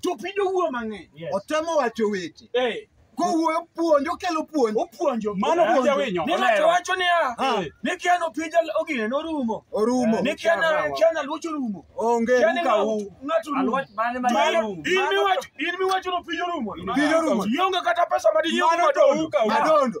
To opija owuoyo mang'eny. Yes. Otemo wacho weche. Eh, Kowuoyo puonjo kelo puonj. opuonjo. Mano Opuonjo. puonjo winyo. Ni ng'ato wacho niya, Ah. ni kiano opija ogine norumo. Orumo. Ni kiana kiana luoch orumo. Onge Kiani ruka ng'ato- u. ng'ato orumo. Alwach mane ma Mano- yarum. in miwacho- in miwacho ni opija orumo. Opija orumo. Ionge kata pesa ma dinyiew Mano to madongo. uka u. Madondo.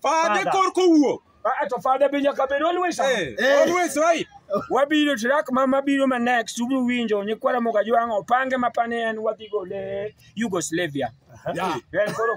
Fade Fada. korka owuok. Ah, to fada be nyaka bed always on. Eh, Eh. always right. wabiro track ma mabiro ma next ubiro winjo nyikwara moga jwang' opange mapane en wadhi gole Yugoslavia Yeah. En koro